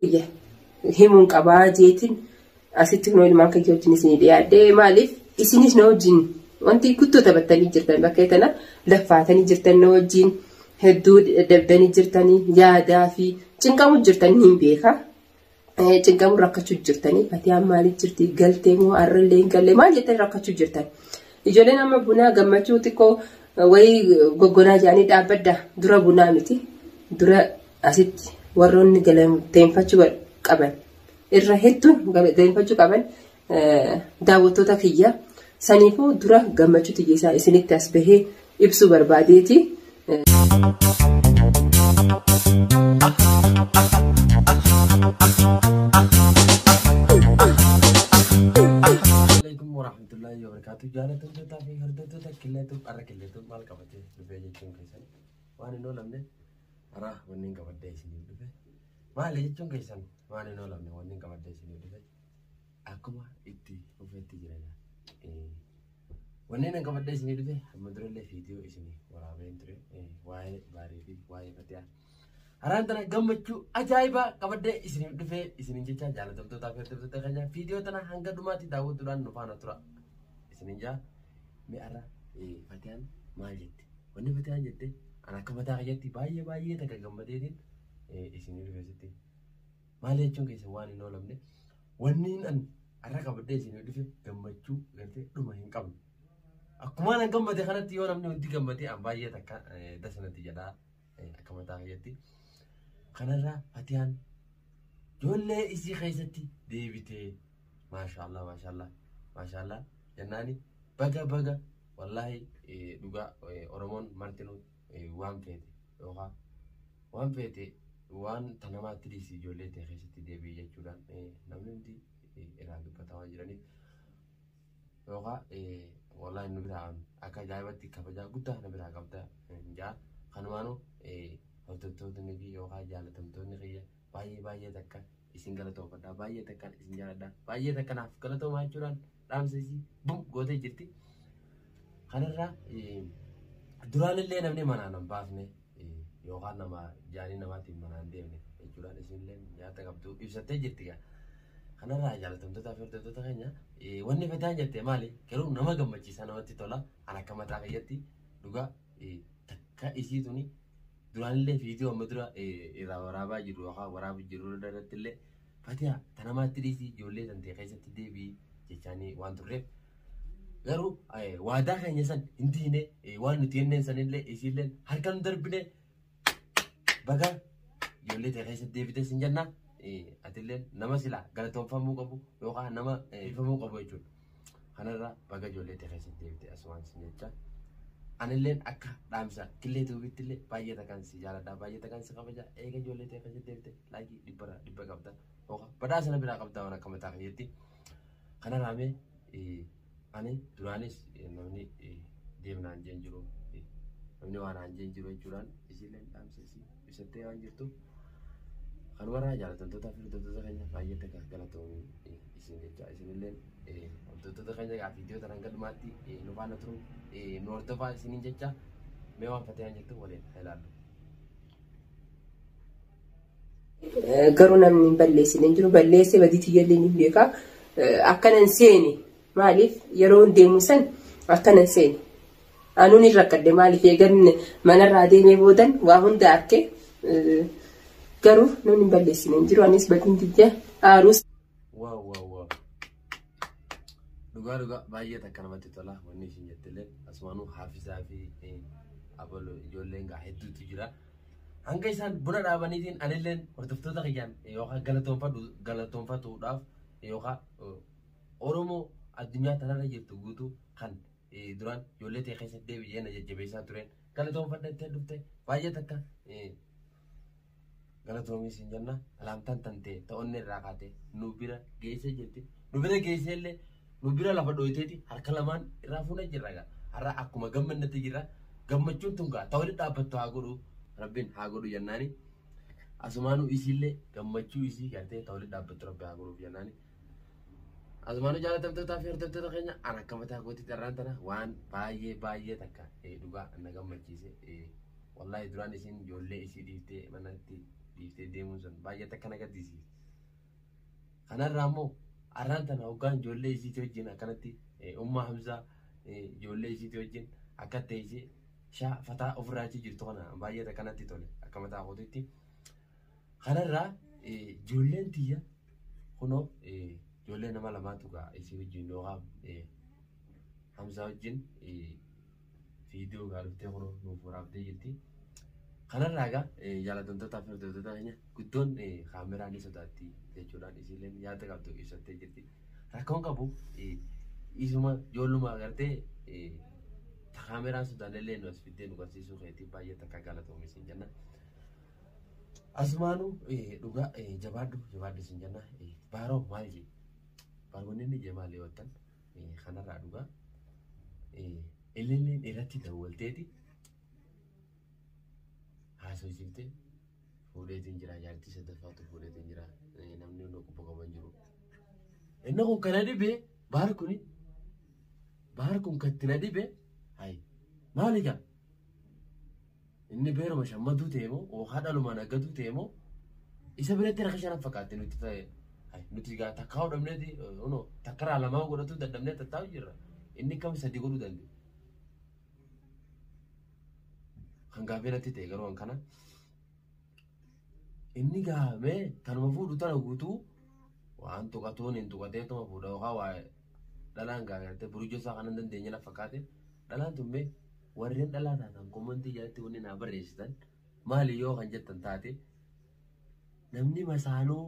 biyya himuun qabaa jeetiin asitti kunoo ilmaan kan wajjin isin dhiyaadhee maaliif isinis na wajjin wanti guddoo taphattanii jirtan bakka tana laffaatanii jirtan na wajjin hedduu dadhabdanii jirtanii yaadaa fi cinqamuu jirtan hin beeka. Cinqamuu rakkachuu jirtanii fatiyaan maaliif jirti galtee moo har'allee hin galle maal jettanii rakkachuu jirtan. Ijoolleen amma bunaa gammachuu xiqqoo wayii goggonaa jedhanii dhaabbadda dura bunaa miti dura Asitti warroonni galateeffachuu qaban irra hedduun galateeffachuu qaban daawwattoota kiyya saniifuu dura gammachuu tiyyeessaa isinitti as bahee ibsuu barbaadeeti. Assalamualaikum warahmatullahi wabarakatuh. Jaalattoota fi hordoftoota qilleetuuf har'a qilleetuuf maal qabatee dhufee jechuun keessan waan hin oolamne Araa wanni hin qabadde isiniif dhufe maali jechuun keessan waan hin oolamne wanni hin qabadde isiniif dhufe akkuma itti dhufetti jirana. Wanni hin qabadde isiniif dhufe amma durallee viidiyoo isinii waraabeen ture waa'ee baarii fi waa'ee fatiyaa. Haraan tana gammachuu ajaa'ibaa qabaddee isiniif dhufee isiniin jecha jaalatamtootaa fi hordoftoota keenya viidiyoo tana hanga dhumaatti daawwachuudhaan nu faana tura. Isiniin jaa mi'arra fatiyaan maal jetti? Wanni fatiyaan jette an akka mataa kiyyatti baay'ee baay'ee takka gammadeetiin isinii dhufe sitti. Maali jechuun keessan waan hin oolamne wanni an har'a qabadhee isinii dhufe gammachuu gartee dhuma hin qabne. Akkuma an gammade kanatti yoo namni hundi gammade an baay'ee takka dasa natti jedhaa akka mataa kiyyatti. Kanarraa fatiyaan ijoollee isii keessatti deebitee maashaallah maashaallah maashaallah jennaani baga baga Wallaahi dhugaa Oromoon martinuu waan feete yookaan waan feete waan ta namaatti dhiisi ijoollee ta'e keessatti deebi'e jechuudhaan namni hundi irraa dubbataa waan jiraniif yookaan wallaahi nu biraa akka ajaa'ibatti kabajaa guddaa na biraa qabda jaa kanumaanuu hordoftootni fi yookaan jaalatamtoonni kiyya baay'ee baay'ee takka isin galatoofadha baay'ee takkaan isin jaaladha baay'ee takka naaf galatoomaa jechuudhaan dhaamsa isii bum gootee jirti. Kanarraa duraan illee namni manaan hin baafne yookaan nama jaanii namaatiin manaan deemne jechuudhaan isinillee nyaata qabdu ibsattee jirti gaa. Kanarraa jaalatamtoota fi hordoftoota keenya wanni fedhaan jette maali garuu nama gammachiisa namatti tola an akka mataa kiyyatti dhugaa takka isii tuni duraanillee viidiyoo amma dura irraa waraabaa jiru yookaan waraabu jiru irratti illee fatiyaa tanamaatti dhiisii ijoollee tantee keessatti deebii jechaanii waan turreef garuu waadaa keenya san hin diine waan nuti jenneen san illee isiillee harka nu darbine baga ijoollee tee keessatti deebitee sin jenna atillee nama silaa galatoomfamuu qabu yookaan nama ifamuu qabu jechuudha. Kanarra baga ijoollee tee keessatti deebite asumaan sin jecha. Anilleen akka dhaamsa killee tuubitti illee baay'ee takaan si jaaladha baay'ee takaan si kabaja eega ijoollee tee keessatti deebite laayikii dhibbara dhibba qabda hooka badhaa sana biraa qabda waan akka mataa kiyyetti. Kanarraa mee ani duraanis namni deemnaan jeen jiru namni waan aan jeen jiru jechuudhaan isiilleen dhaamsa isii. ibsattee waan jirtuuf kanumarraa jaalatamtootaa fi hordoftoota keenya baay'ee takka galatoomii isin jecha isinilleen hordoftoota keenya gaa viidiyoo tanaan galmaatti nu faana turu nu hordofaa isiniin jecha mee waan fatiyaan jettu waliin haa ilaallu. Garuu namni hin balleessine hin jiru balleessee badii tiyyallee ni beekaa akkanan seeni Maaliif yeroon deemu san akkanan seene. Anuu ni rakkadhe maaliif eegan manarraa deemee boodan waa hunda arke garuu namni hin balleessine hin jiru anis badin tiyya aaruus. Waaw waaw waaw. Dhugaa dhugaa baay'ee takka namatti tola wanni isin jettillee asumaanuu haafisaa fi abaloo ijoolleen gaa hedduutu jira. Hanga isaan buna dhaabaniitiin anilleen hordoftoota kiyyaan yookaan galatoonfadhu galatoonfatuudhaaf yookaan Oromoo addunyaa tanarra jirtu guutuu kan duraan ijoollee tee keessatti deebi jee na jajjabeessaa tureen galatoomfadha itti dhufte baay'ee takka galatoomii siin jenna alaamtaan tantee ta onni irraa kaatee nu bira geessee jirti nu bira geessee illee nu bira lafa dhooyteeti harka lamaan irraa fuuna jirra gaa har'a akkuma gammannatti jirra gammachuun tun gaa ta walitti dhaabbattu haa godhu rabbiin haa godhu jennaani asumaanuu isiillee gammachuu isii gartee ta walitti dhaabbattu rabbi haa godhuuf jennaani Azumaanuu jaalatamtootaa fi hordoftoota keenya an akka mataa kootii carraan tana waan baay'ee baay'ee takka eh, dhugaa na gammachiise. eh, Wallaahi duraan isiin ijoollee isii dhiiftee manatti dhiiftee deemuun sun baay'ee takka na gaddisiise. Kanarraa immoo arraan tana hoggaan ijoollee isiitii wajjin akkanatti eh, ummaa Hamzaa eh, ijoollee isiitii wajjin akka ta'e ishee shaa fataa ofirraa achii jirtu kana baay'ee takka natti tole akka mataa kootiitti. Kanarraa ijoolleen tiyya kunoo ijoollee nama lamaatu gaa isii wajjin yookaan Hamzaa wajjin viidiyoo gaa dhuftee kunoo nuuf waraabdee jirti. Kanarraa gaa jaallatamtootaa fi hordoftoota keenya guddoon kaameraa ni sodaatti jechuudhaan isiilleen yaada qabdu ibsattee jirti. Rakkoon qabu isuma ijoolluma agartee kaameraan sodaannellee nu as fiddee nu barsiisuu keetii baay'ee takka galatoomi siin jenna. Asmaanu dhugaa jabaadhu jabaadhu isin jenna baaroo maal jee baaronni inni jee maal yoo ta'an kanarraa dhugaa ililleen irratti dawwalteeti haasofsiiftee fuudheetiin jira jaartii sadaffaatu fuudheetiin jira namni inni qubba qaban jiru. Inni kun kana dhibee baar kuni baar kun katti na dhibee hayi maali gaa Inni beeruma shammaduu ta'e moo ookaa dhalumaan aggatuu ta'e moo isa biratti rakka shanan fakkaatte nuti ta'e nuti gaa takkaa hodhamneeti ono takkaraa lamaa godhatuu dadhabnee tattaa'u jirra inni kam sadi godhuu danda'e. Kan gaaffii natti ta'e garuu kana inni gaafame kanuma fuudhu tana guutuu waan tuqatuun hin tuqatee tuma fuudha yookaan waa dhalaan gaa gartee burujoo isaa kanan dandeenye na fakkaate dhalaan tun mee warreen dhalaa taatan komantii jalatti wanni naa barreessitan maali yoo kan jettan taate namni masaanuu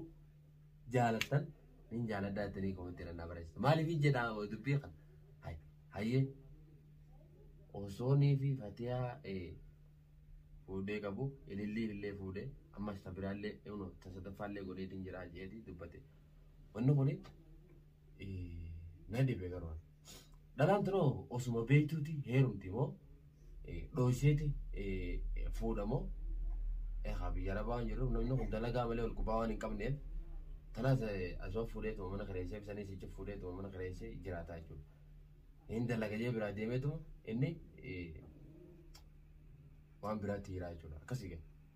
jaalattan nin jaaladhaa jettanii komantii naa barreessitan maaliif jedhaa dubbii kan hayyee osoonii fi fatiyaa fuudhee qabu ilillii illee fuudhee ammas tabiraallee ta sadaffaallee godheetiin jiraa jeetii dubbate wanni kuni na dhibe garuu ani. Dhalaan tunoo osuma beektuuti heerumti moo dhooyseeti fuudha moo egaa biyya arabaa waan jirruuf namni kun dalagaa malee ol kubaa waan hin qabneef tanaas asuma fuudheetuma mana kireessee bisanii sichi fuudheetuma mana kireessee jiraataa jechuudha. Hin dalaga jee biraa deemeetuma inni waan biraatti jiraa jechuudha akkasii gala.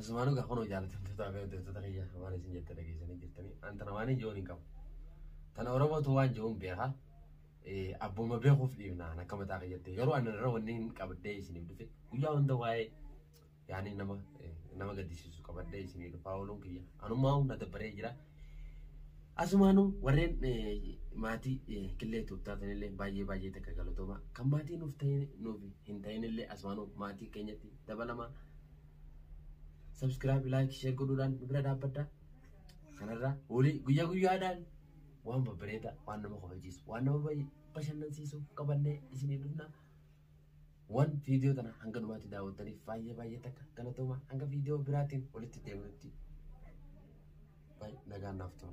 Asumaan dhugaa kunoo jaalatamtootaa fi hojjettoota kiyya waan isin jette dhageessanii jirtanii an tana waan ijoon hin qabu. Tana Oromootu waan jiruun beeka. Abbuma beekuuf dhiifnaan akka mataa kiyyatti garuu ani irra wanni hin qabdee isiniif dhufe guyyaa hunda waa'ee yaani nama nama gaddisiisu qabadhee isinii dhufaa ooluun kiyya anummaa humna dabbaree jira Asumaanu warreen maatii killee tuub taatanillee baay'ee baay'ee takka galatooma. Kan maatii nuuf ta'in nuuf hin ta'inillee asumaanu maatii keenyatti dabalama. Subscribe, like, share godhuudhaan nu bira dhaabbadha. Kanarraa hoolii guyyaa guyyaadhaan waan babbareeda waan nama kabachiisu waan nama bashannansiisu qabannee isinii dhufna. waan viidiyoo tana hanga dhumaatti daawwattaniif baay'ee baay'ee takka galatooma hanga viidiyoo biraatiin walitti deebinutti nagaan naaf tura.